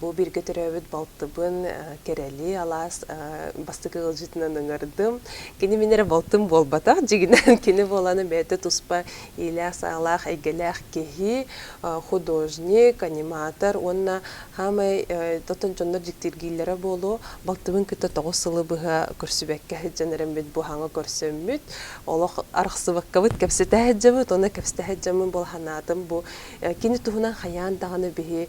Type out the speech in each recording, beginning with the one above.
Бу бииргэ төрөөбүт балтыбын Кэрэли алаас бастакы ыалдьытынан ыҥардым. Кини мин эрэ балтым буолбатах, дьигинэн кини буолана бэйэтэ туспа иилээх-саалаах, эйгэлээх киһи, художник, аниматор уонна хаамай оттон дьоннор дьиктиргииллэрэ буолуо, балтыбын кытта тоҕус сылы быһа көрсүбэккэ сылдьан эрэммит быһааҥҥа көрсөммүт, олох арахсыбаккабыт кэпсэтэ сылдьабыт уонна кэпсэтэ сылдьаммын була санаатым бу кини туһунан хайаан даҕаны биһи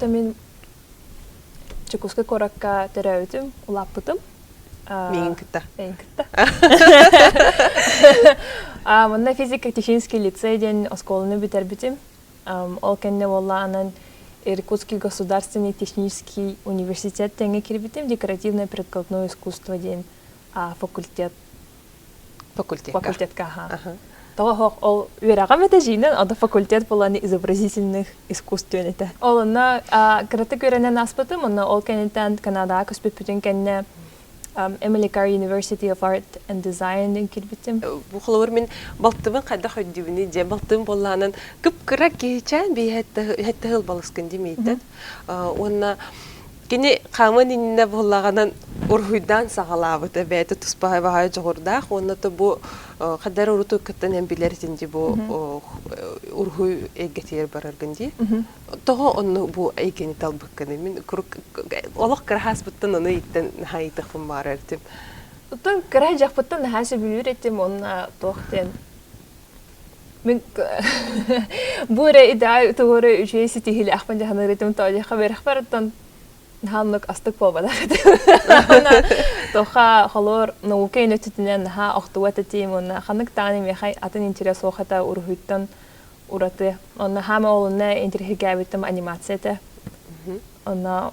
То мин Дьокуускай куоракка төрөөбүтүм, улааппытым. Миигин кытта. Миигин кытта. Манна физико-технический лицей диэн оскуоланы бүтэрбитим. Ол кэннэ буолла анан Иркутский государственный технический университет тэҥэ кирбитим, декоративное-прикладное искусство диэн факультет факультетка факультетка аха тоҕо оһох ол үөрэҕим этэ дьиинэн ото факультет буолан изобразительных искусствен этэ ол онно кыратык үөрэнэн ааспытым онно ол кэнниттэн канадаҕа көспүппүтүн кэннэ Эмиликар University of Art and Design кирбиттим. Бу холобур мин балтыбын хайдах өйдүүбүнүй дьэ балтым буоллаанан кып-кыра киһичээн биэһэтте хыл балыскын димейте. Уонна кини хааман иннинэ буоллаҕынан уруһуйдаан саҕалаабыта бэйэтэ туспа баһай дьоҕурдаах уонна то бу хайдар уруту кыттан эн билэр этин ди бу уруһуй эйгэтигэр бараргын дии того онну бу эйгэни талбыккын мин олох кыраһааспыттан аны иттэн наһаа ыйтахпын баара этим оттон кыра дьахпыттан наһаа сөбүлүүр этим онна туох диэн Мин бу эрэ идеа тугу эрэ үчүгэй ситиһиилээхпин дьаһаныырытым тоодиха бэрхпэр оттон хааннык астык буолбатах этэ уонна тоха холор наука инөтүтүнэн наһаа охтубат этим уонна ханнык даҕаны миэхэй атын интирес суох этэ уруһуйтан ураты онно хаама олунна интириһигээбиттим анимация этэ онно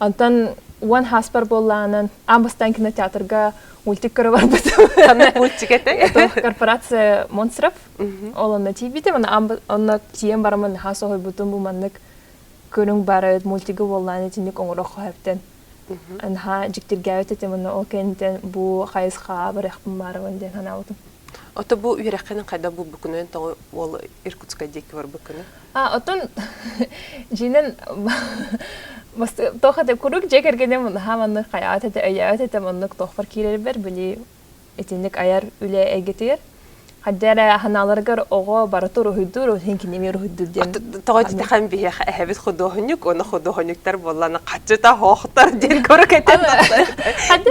Онтон уон хаспар буоллаанан аан бастаан кинотеатрга мультик көрө барбытым. Мультик этэ? Корпорация Монстров. Ол онно тиийбитим. Онно тиийэн барамын наһаа соһуйбутум бу маннык көрүҥ барыт мультигы буоллаан итинник оҥороххо хэптен. Наһаа дьиктиргээбит этим онно ол кэнниттэн бу хайысхаҕа барыахпын баарымын диэн санаабытым. Ото бу үөрэххинэн хайда булбуккунуйан тоҕо уол Иркутска диэки барбыккыны? А оттон дьиинэн тоха да курук дьэ кэргэним наһаа маннык хайаат этэ өйөөт этэ маннык тохпор киирэрбэр били итинник айар үлэ эйгэтигэр Хадде эрэ ханааларыгар оҕо бары туруһуйдуур, хинкиними руһуйдуур диэн. Тоҕо титэхэн биһиэхэ эһэбит худуоһунньук, уонна худуоһунньуктар буоллана хаччыта хоохтор диэн көрө кэтэн Хадде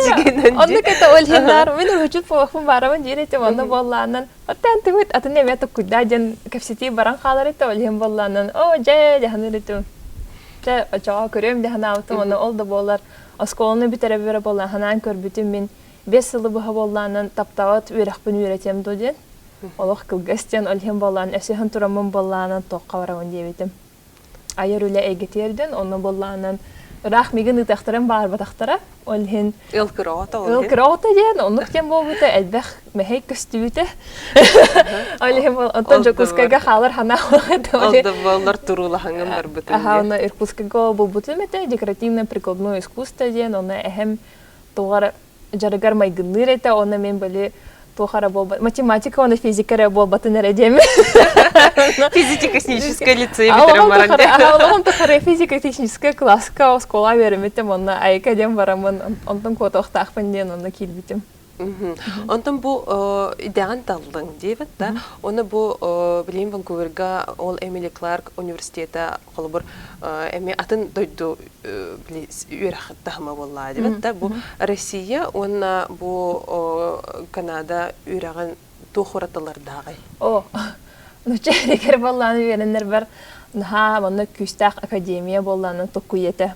оннук это өлһиннаар, мин үрүчүт похмун барамын диир этим онно буоллаанан Оттон тыбыт атын эмэ туккуйдаа дьон кэпсэтии баран хаалар этэ ол иһин буоллаанан оо дьэ дьаһаныр этим дьэ очоҕо көрүөм дьаһанаабытым ону ол да буолар оскуоланы бүтэрэ бүтэрэ буоллааһынаан көрбүтүм мин биэс сылы быһа буоллаанан таптаҕыт үөрэхпин үөрэтиэм дуо диэн олох кылгас диэн ол иһин буоллаан өсөһөн тураммын буоллаанан туохха барамын диэбитим айар үлэ эйгэ тиэрдин онно буоллаанан ыраах мигин ыытахтарым баарбатахтара ол иһин ыл кыраҕата ол ыл кыраҕата диэн оннук диэн буолбута элбэх мэһэй көстүбүтэ ол иһин оттон дьокуускайга хаалар ханаа ол да буоллар туруулахаңын барбытын аха онно иркутскайга булбутум этэ декоративно прикладное искусство диэн онно эһэм тугар дьарыгар майгынныыр этэ уонна мин били туох эрэ буолбат математика уонна физика эрэ буолбатын эрэ диэм физико-техническое лицей олоҕум тухары физико-техническая класска оскуола үөрэммитим уонна айка диэн бараммын онтон куотуохтаахпын диэн онно киирбитим Онтон бу идэҕин таллыҥ диэбит да, уонна бу билим Ванкуверга ол Эмили Кларк университета холобур эмиэ атын дойду үөрэх таһыма буоллаа дибит да бу Россия уонна бу Канада үөрэҕин туох уратылардааҕый? О, нучча рекер боллааны үөрэннэр бар наһаа манна күүстээх академия боллаанын туккуйата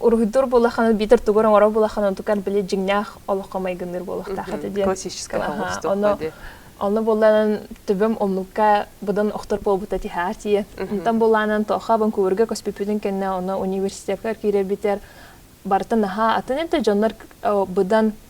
уруһуйдуур буолаххына биитэр тугур оҥорор буолаххына онтукан били дьиҥнээх олоххо майгыныыр буолуохтаах этэ диэн классическое хоҕустуохха диэн Онно буолланан төбөм омнукка быдан охтор буолбута тиһаа тиийэ. Онтон буолланан тоха Ванкуверга көспүппүтүн кэннэ оны университетка киирэ битэр барыта наһаа атын это дьоннор быдан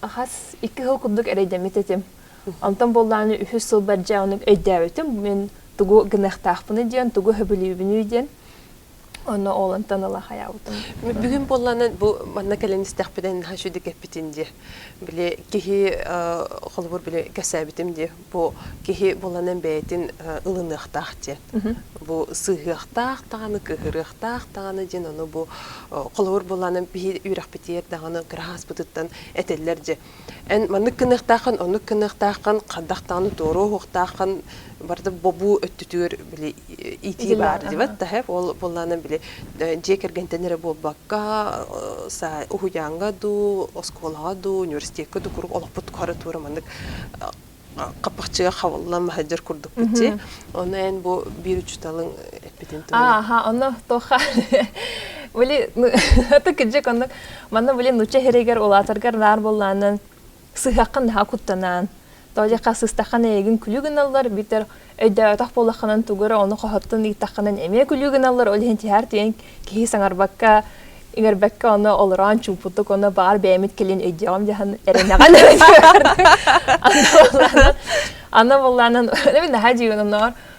Хас икки сыл курдук эрэйдэммит этим. Онтон буоллааны үһүс сылбар дьэ оннук өйдөөбүтүм. Мин тугу гыныахтаахпыный диэн, тугу сөбүлүүбүнүй диэн. Ону ол онтон ыла хайаабытым. Бүгүн буоллаанан бу манна кэлэн истэхпитин хаһан шүдикэппитин дии. Били киһи холобур били кэсээбитим дии. Бу киһи буланан бэйэтин ылыныахтаах диэн. Бу сыһыахтаах даҕаны, кыһырыахтаах даҕаны диэн ону бу холобур буланан биһи үөрэхпитигэр даҕаны кырааһаспытыттан этэллэр дьэ эн маннык гыныахтааххын оннук гыныахтааххын хардах даҕаны туоруу уһуохтааххын барда бобуу өттүтүгэр били итии баар диват таһып ол буллаанан били дьиэ кэргэнтэн эрэ буолбакка уһуйааҥҥа дуу оскуолаҕа дуу университекка дуу куруук олохпут куһары туора маннык хаппахчыга хабыллан маһайдьар курдук бичи ону эн бу биир учуталың эппитин туһуна аха ону тоха били аты кыдьык оннук манна били нучча херегер улаатаргар наар боллаанан сыһыаххын наһаа куттанаан тоолиха сыстаххын эйигин күлүү гыналлар бүтэр өйдөөтөх буолаххынан тугу эрэ ону хоһоттон ыыттаххынан эмиэ күлүү гыналлар ол иһин тиһэр тиэн киһи саҥарбакка иҥэрбэккэ ону олороон чуумпутук ону баар бэйэмит кэлин өйдөөҕүм дьаһан эрэнэҕин аны боллаанан аны боллаанан наһаа дьиҥнэнэр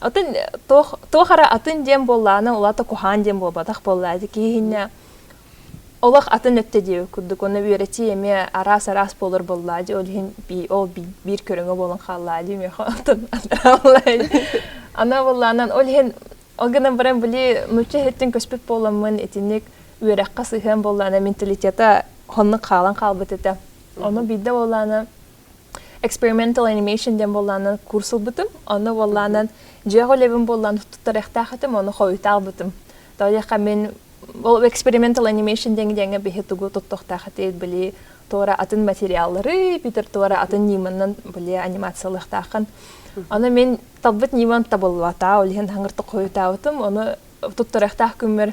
Атын туох туох эрэ атын диэн буоллаана улаата куһаан диэн буолбатах буолла ити киһиннэ олох атын өттө диэбит курдук уонна үөрэтии эмиэ араас араас буолар буоллаа дии ол иһин би ол биир көрүҥэ буолан хааллаа дии миэхэ оттон ана буоллаанан ол иһин ол гынан баран били нуучча иһиттин көспүт буоламмын итинник үөрэххэ сыһыан буоллаана менталитета хоннук хаалан хаалбыт этэ ону биирдэ буоллаана experimental animation диэн буоллаанан курс ылбытым онно буоллаанан дьиэх үлэбин буоллаан туттарыахтаах этим оны хойутаабытым тоойохха мин ол experimental animation диэн диэҥҥэ биһи тугу туттуохтаах этэ били туора атын материаллары бүтэр туора атын ньыманан били анимациялыахтааххын аны мин талбыт ньымам табыллаата ол иһин хаңыртык хойутаабытым оны туттарыахтаах күммэр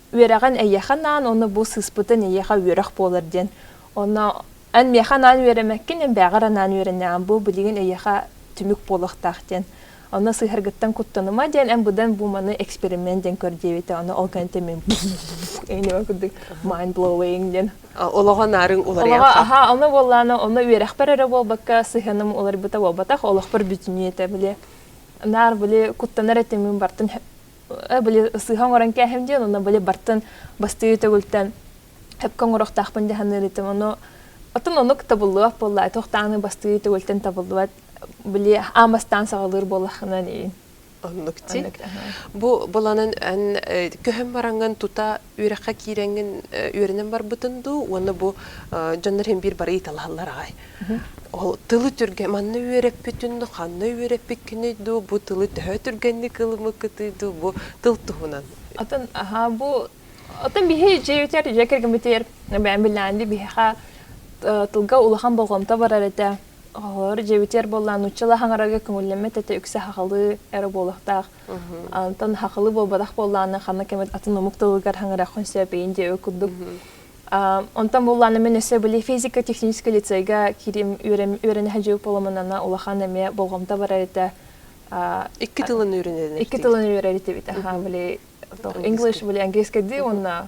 үөрэҕин эйиэхэ анаан уонна бу сыыспытын эйиэхэ үөрэх буолар диэн онно эн миэхэ анаан үөрэмэккин эмбээҕэр анаан үөрэнэҕин бу билигин эйиэхэ түмүк буолуохтаах диэн онно сыһаргыттан куттаныма диэн эн быдан бу маны эксперимент диэн көр диэбитэ оны ол кэнтэ мин эйнева курдук mind blowing диэн олоҕо наарыҥ уларыйан олоҕо аха ону буоллаана ону үөрэхпэр эрэ буолбакка сыһыаным уларыйбыта буолбатах олохпор бүтүнүү этэ били наар били куттанар этимин бартын били сыыһа оҥорон кээһэм диэн онно били бартын бастыы төгүлтэн эпке оҥорохтаахпын дьаһаныырытым ону отун онук табыллыбат буолла туохтааны бастыы төгүлтэн табыллыбат били аамастаан саҕалыыр буоллаххына диин оннук ти бу баланын эн көһөн бараҥын тута үөрэххэ киирэҥҥин үөрэнэн барбытын дуу уонна бу дьоннор иһин биир бары ыйыталаһаллар аҕай ол тылы түргэ манна үөрэппитин дуу ханна үөрэппиккиний дуу бу тылы төһө түргэнник ылымыккытый дуу бу тыл туһунан атын аhaa бу оттон биһи дьиэтигэр дьиэ кэргэммитигэр бэйэм билээн биһиэхэ тылга улахан болҕомто барар этэ холор дьиэбитигэр буоллаан нууччалар хаҥарарга көҥүллэммэт этэ үксэ хахалы эрэ буолуохтаах Онтон хахылы буолбатах буоллааны ханна кэмит атын омук тылыгар хаңырахын сөпейин де курдук. Онтон буоллааны мен өсө были физика технический лицейга кирим үөрэнэһэ жыл поломанана улахан эме болғомта барар этэ. Икки тылын үөрэнеден. Икки тылын үөрэнетебит. Аха были english были английский ди уонна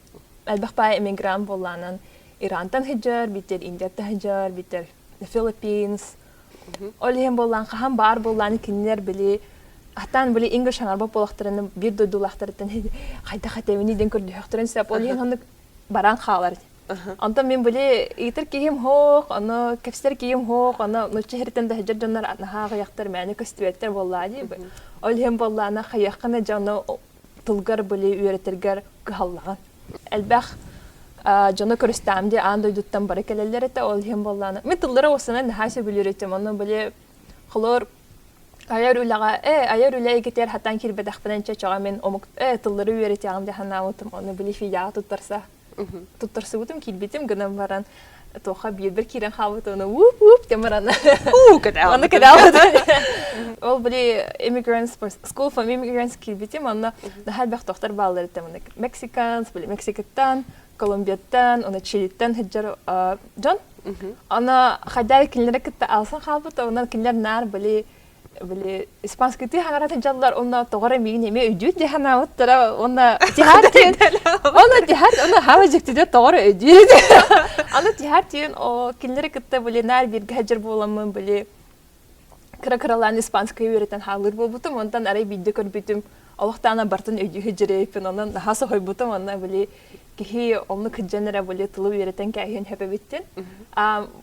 Элбэх паай эмигрант буоллаанан Ирантан хыдьар, биттер Индияттан хыдьар, биттер Филиппинс. Ол иһин буоллаан хаһан баар буоллаан кинилэр били Атаан били ингли шаҥарба буолахтарына биир дойдулаахтарыттан хайдах этэбини ден көрдөһөхтөрүн сеп ол иһин оннук баран хаалар. Онтон мин били ыытыр киһим хоох, ону кэпсэр киһим хоох, ону нучча херитен да хыдьар дьоннор наһаа аҕыйахтар мээнэ көстүбэттэр буоллаа дии. Ол иһин буоллаана хайаххана дьону тылгар были үөрэтэргэр кыһаллаҕын. Элбэх дьоно көрүстээм дии аан дойдуттан бары кэлэллэр этэ ол иһин буоллаана мен тыллары осыны наһаа сөбүлүүр этим ону били холор айар үлэҕэ э айар үлэ игитэр хатан кирбэтэхпинэн чөчөҕө мин омук э тыллары үөрэтиэҕим дии санаабытым ону били фидяҕа туттарса Туттарсыбытым киирбитим гынан баран туохха биирдэр киирэн хаалбыт оны уп уп дем баран Манна кэтаабыт ол были immigrants school from immigrants киирбитим онно наһаа элбэх тохтор баалларыттан манна мексиканс были мексикаттан колумбияттан оны чилиттан сылдьар дьон аны хайдаа кинилэри кытта алсан хаалбыт онон кинилэр наар были били испанскитыы хаҥаратын дьаллар уонна тоҕоро миигин эмиэ өйдүүт дии санаабыттара уонна тиһаар тиэн уонна тиһаар уонна хава дьиктиде тоҕоро өйдүүт аны тиһаар тиэн о кинилэри кытта били наар бииргэ садьыр буоламмын били кыра кыралаан испанскай үөрэтэн хаалыр буолбутум онтон арай биирдэ көрбүтүм олохтаана бартын өйдүүһү дьирэйиппин онон наһаа соһуйбутум онно били киһи онну кыддьан эрэ били тылы үөрэтэн кээһиэн хөпөбүттин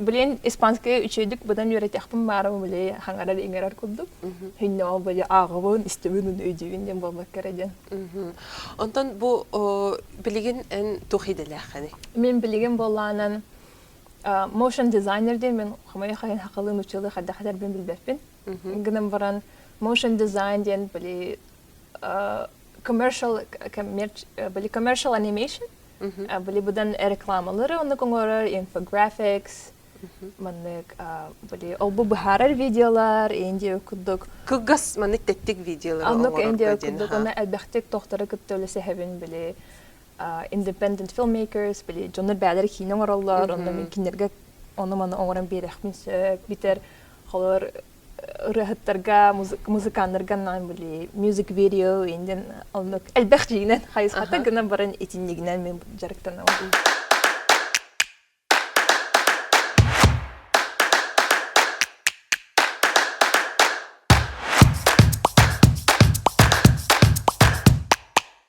Блин, испанская үчэйдик быдан үөрэтиэхпин баарым били хаңарар иҥэрэр курдук. Хиннеҕа били ааҕыбын, истибин өйдүүгүн диэн буолбакка кэрэ диэн. Онтон бу билигин эн туох идэлээххиний? Мен билигин боллаанан motion designer диэн мен хомойо хайын хакылын учылы хардахатарбын билбеппин. Гынан баран motion design диэн били commercial были commercial animation были быдан рекламалары оннук оҥорор infographics маннык были олбу быһаарар видеолар инди курдук кылгас маннык тэттик видеолар оннук инди курдук оны элбэхтик тохтора кытта үлэ сэһэбин били independent filmmakers били дьоннор бээлери киинэ оҥороллор онно кинилэргэ ону маны оҥорон биэрэхмин сөп битэр холор ырыаһыттарга музыканнарга наан були music video индин оннук элбэх жиинен хайысхата гына баран итиннигинен мен жарыктанабын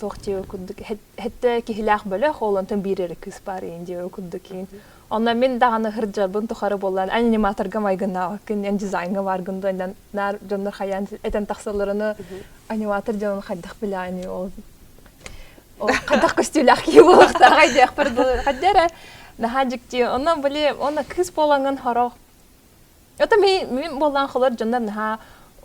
туох дьиэҕэ курдук эһэтэ киһилээх бөлөх ол онтон биир эрэ кыыс баар иин дьиэҕэ курдук иин онно мин даҕаны сылдьарбын тухары буоллан аниматорга майгыннаабаккын диэн дизайҥҥа бааргын дуо иннэн наар дьоннор хайаан этэн тахсалларына аниматор дьонун хайдах билэҕиний ол хайдах көстүүлээх киһи буолуохтааҕай диэхпэр дылы хайда эрэ наһаа дьикти онно были онно кыыс буолаҥын сорох Это ми мим боллаан холор дьоннор наһаа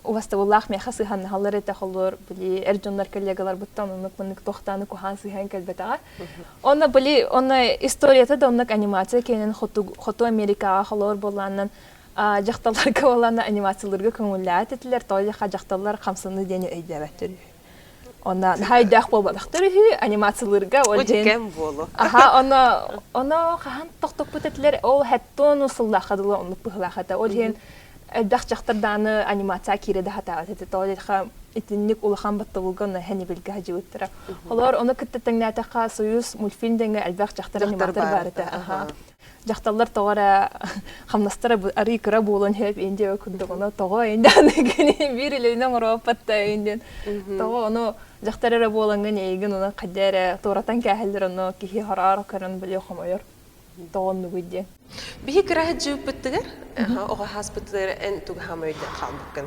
убастабыллаах миэхэ сыһаннаһаллар этэ холор били эр дьоннор коллегаларбыттан оннук маннык тохтааны куһаан сыһан кэлбэтэҕэ онно били онно историята да оннук анимация киэнин хоту хоту америкаҕа холор боллааннан дьахталларга боллаанна анимацияларга көҥүллээт этилэр тоойха дьахталлар хамсаны диэни өйдөөбөттөр Онна хайдах буолбатахтар үһү анимациялыырга ол день кэм буолу. Аха оно оно хаһан тохтоппут этилер ол хэттон усуллаха дылы оннук быһылаха это ол день элбэх жақтардааны анимация кире да хатаат это то деха итинник улахан батталуга на хени билге хажыбыттара олор ону кытта таңнатаха союз мультфильм деңе элбэх жақтар аниматор бар это аха дьахталлар тоҕо эрэ хамнастара арыый кыра буолан иһэт ин диэбэ курдук ону тоҕо индээн биир илиини оҥороппатта ин диэн тоҕо ону дьахтар эрэ буолаҥҥын эйигин унан хадьа эрэ туоратан кээһэллэр ону киһи хараара көрөн билиэ хомойор тоҕон нугуй диэн биһи кыра сыдьыыппыттыгар оҕа хааспыттыгар эн туга хамайда хаалбыккын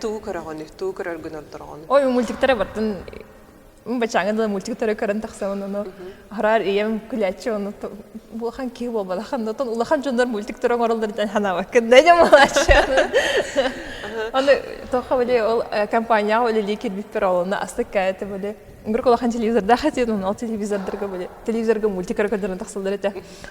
Тугу көрөҕүнүй? Тугу көрөргүн олтороҕун? Ой, мультиктары бартын бачааңа дылы мультиктары көрөн тахсан ону араар ийэм күлээччи ону булахан киһи буолбатахан отон улахан дьоннор мультиктары оҥороллор диэн санаабаккын да дьэ малааччы аны тоха были ол компанияҕа үлэлии кирбиппер олуна астык кээте были бір кулахан телевизордаах этиэн ол телевизордарга были телевизорга мультикары көрдөрөн тахсаллар этэ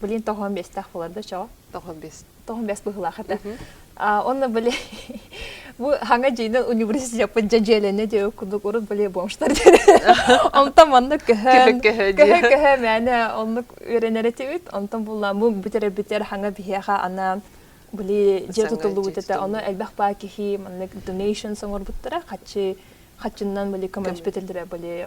Блин, тоһон бэстээх боларда чоо. Тоһон бэс. Тоһон бэс быһылаах этэ. Онно были бу хаҥа дьиинен университетпын дьэдьиэлене диэ курдук урут были бомштар онтон манна көһөн көһө көһө мээнэ оннук үөрэнэр этибит онтон булла бу бүтербитер хаҥа биһиэхэ ана были дьэ тутуллубут этэ ону элбэх баа киһи маннык donation соңорбуттара хаччы хаччыннан были көмөспөтөллөрө были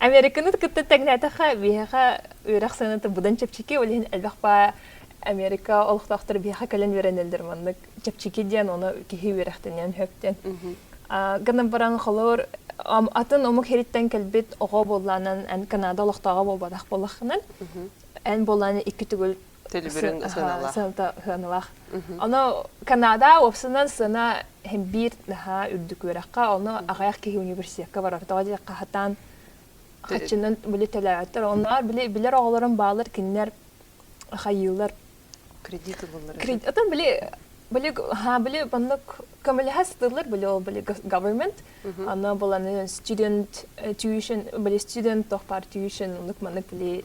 Американы кытта тэҥнээтэххэ, биһиэхэ үөрэх сыаната будан чэпчэки, ол иһин элбэх баа Америка олохтоохтор биһиэхэ кэлэн үөрэнэллэр маннык чэпчэки диэн, ону киһи үөрэхтэниэн сөп диэн. Гынан баран холор атын омук хириттэн кэлбит оҕо буолланан эн Канада олохтооҕо буолбатах болахынан эн болланы икки түгүл Төлөбүрүн сыаналаах. Сыаната сыаналаах. Ону Канада уопсанан сыана биир наһаа үрдүк үөрэххэ, ону аҕайах киһи университекка барар. Тоҕо диэн хаһатаан хаччынан били төлөөттөр. Онноор били билэр оҕолорум баалар кинилэр хайыылар кредит ылаллар. Кредит атын били били ха били маннык көмөлөһө сытыллар били ол били government аны буланы student tuition били student тохпар tuition оннук маннык били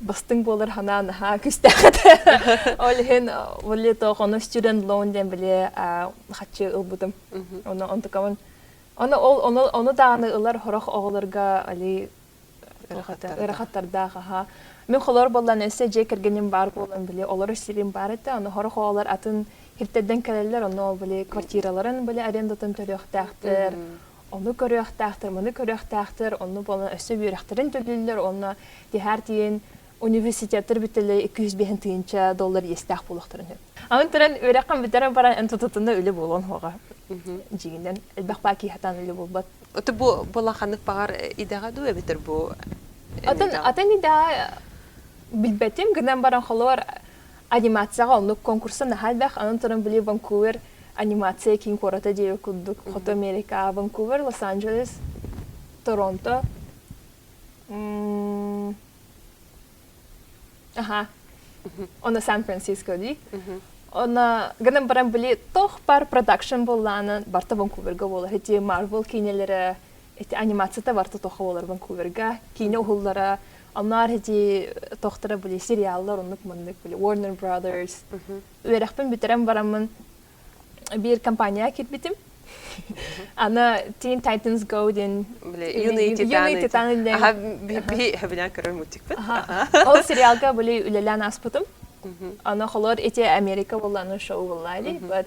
бастыҥ буолар санаа наһаа күстэххэ ол иһин боллито хонус жүрэн лоон диэн биле хаччы ылбытым оны онтукамын оны ол оны оны дааны ылар хорох оҕолорго али ырахаттардаах аха мен холор боллан эссе же кэргеним бар болан биле олор сирим бар этэ аны хорох оҕолор атын хиртедден келелер ону ол биле квартираларын биле арендатын төрүөхтээхтер Ону көрүөхтээхтэр, маны көрүөхтээхтэр, онну буолан өссө үөрэхтэрин төлүүллэр уонна тиһээр тиийин университеттар бүтэлэ икки жүз биэһин тыйынча доллар иэстээх буолуохтарын сөп. Аны туран үөрэххин бүтэрэн баран эн тутутунна үлэ буолуон хоҕа. Дьиҥинэн элбэх баа киһатан үлэ буолбат. Ото бу була ханнык баҕар идэҕэ дуу эбэтэр бу атын атын идэҕэ билбэтим гынан баран холор Анимацияҕа оннук конкурса наһаа элбэх, аны-туран били Ванкувер анимация киин куората диэри курдук, Хоту Америка, Ванкувер, Лос-Анджелес, Торонто. Аха. Оно Сан-Франциско дии. Она гынан баран били тох бар продакшн боллаанан барта Ванкуверга болар ити Marvel киинэлэрэ эти анимацията барта тоха болар Ванкуверга киинэ уһуллара Анаар ити тохторо были сериаллар оннук маннык были Warner Brothers. Үөрэхпин бүтэрэн бараммын биир компания кирбитим. Ана Teen Titans Go диэн юный титаны диэн хабинан көрөр мультикпыт. Ол сериалга были үлэлээн аспытым. Аны холор эти Америка боллану шоу боллаали, but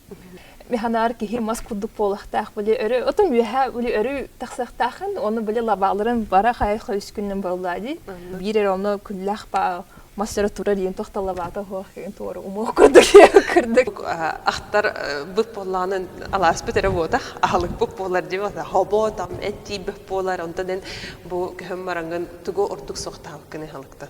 механаар киһи мас курдук буолахтаах били өрө отум үөһэ били өрүү тахсыахтаахын ону били лабааларын бара хайха үскүннүн болла ди биир эр ону күллэх па массыра турар иин тохта лабаата хоох ин туору умоо курдук кырдык ахтар быт боллаанын алааспыт эрэ буотах аһылыкпыт буолар ди бота хобо там эттиибит буолар онтон эн бу көһөм марангын тугу ортук соқтаабыккын аһылыктан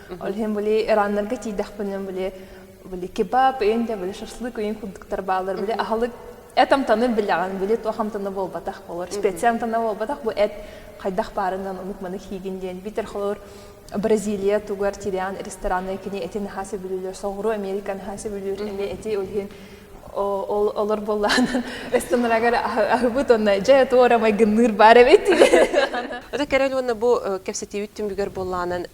Ол иһин били Ираннарга тиийдэхпинэ били били кебаб үйүн да били шашлык үйүн курдуктар баалар били аһылык эт амтаны билэҕин били туох амтаны буолбатах болор специя амтаны буолбатах бу эт хайдах баарынан онук маны хийгин диэн битэр холор Бразилия тугар тириан рестораны кини эти наха сөбүлүүлөр соҕуру Американы наха сөбүлүүр эми эти өлһин олор буоллаан эстонарагар аһыбыт онно дьэ туора майгынныыр баар эбит ото кэрэн уонна бу кэпсэтиибит түмүгэр буоллаанан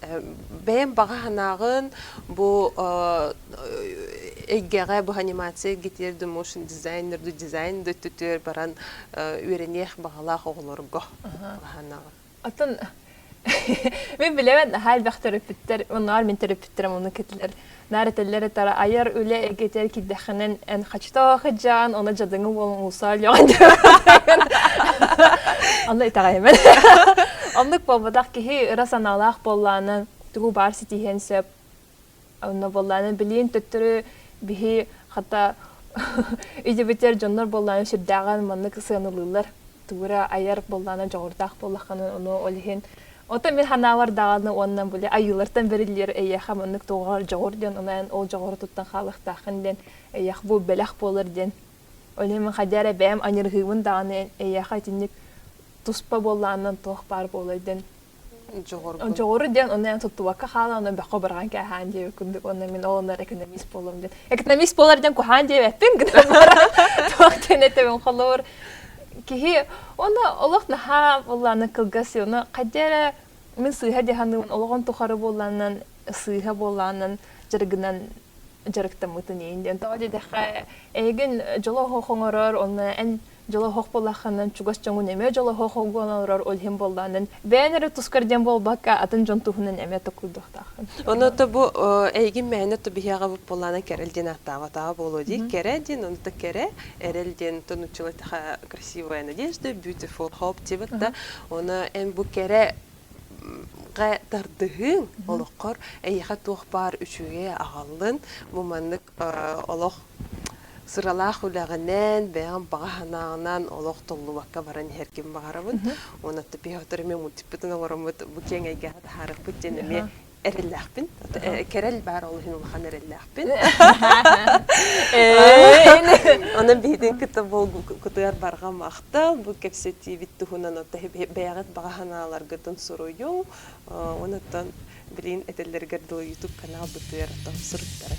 бэйэм баҕа санааҕын бу эйгэҕэ бу анимация гитир du motion дизайнер du дизайн du түтүр баран үөрэниэх баҕалаах оҕолорго баҕа санааҕын Атын Мин билэбин наһаа элбэх төрөппүттэр, оннугар мин төрөппүттэрим ону кэтилэр. Наар этэллэр этара айар үлэ эгэтэр кидэхэнэн эн хачытаах ыдьаан оны жадыңы болон усаалйоон Аны итаҕаймен. Оннук болбатах киһи ыра санаалаах боллааны тугу баар ситиһиэн сөп Онно буоллааны билиэн төттөрү биһи хата идибитер дьоннор буоллааны сүрдээҕин маннык сыанылыыллар туура айар буоллаана дьоҕурдаах буоллахханан ону ол иһин отон мин ханаалар даҕаны уонна були айыылартан бериллер эйиэхэ маннык тоҕоор дьоҕур диэн онон ол дьоҕуру туттан хаалыктаахын диэн эйиэх бу бэлэх буолар диэн Олем хадяра бэм аньырыһыымын даҕаны эйиэхэ итинник туспа буоллааннан туох баар буолар диэн Дьоҕуру диэн ону эн туттубакка хаалан ону бөххө бырҕан кээһээн диэбит курдук онно мин ол оннор экономист буолуом диэн экономист буолар диэн куһаан диэбэппин туох диэн этэбин холобур киһи ону олох наһаа буллааны кылгас оны хайда эрэ мин сыыһа диһаныын олоҕун тухары буоллааннан сыыһа буоллааннан дьарыгынан дьарыктаммытын иин диэн тоҕо диэтэххэ эйигин дьоло хоҥорор онно эн дьолоһох буоллаххынан чугас дьоҥҥун эмиэ дьолоһох олгуон олорор ол иһин буоллаанын бэйэн эрэ тускар диэн буолбакка атын дьон туһунан эмиэ токуйдуохтааххын онуота бу эйигин мээнэ тубиһиэҕэбит буоллаанан кэрэл диэн ааттаабатаҕа буолуо дии кэрэ диэн онута кэрэ эрэл диэн отон учила такая красивая надежда beautiful hope дебит да оны эн бу кэрэ тардыһыың олоххор эйиэхэ туох баар үчүгэй аҕаллын бу маннык олох сыралаах үлэҕинэн, бэйэҕин баҕа санааҕынан олох толлубакка баран иһэр ким баҕарабыт. Уонна топиһотор эмиэ мультиппытын оҥороммут бу киэҥ эйгэҕэ таһаарыахпыт диэн эмиэ эрэллээхпин. Кэрэл баар ол иһин улахан эрэллээхпин. Онон биһитин кытта кытыгар барҕа махтал. Бу кэпсэтиибит туһунан бэйэҕит баҕа санааларгытын суруйуҥ. Онон Билигин этэллэригэр дылы YouTube-канал БТР оттон суруттарар.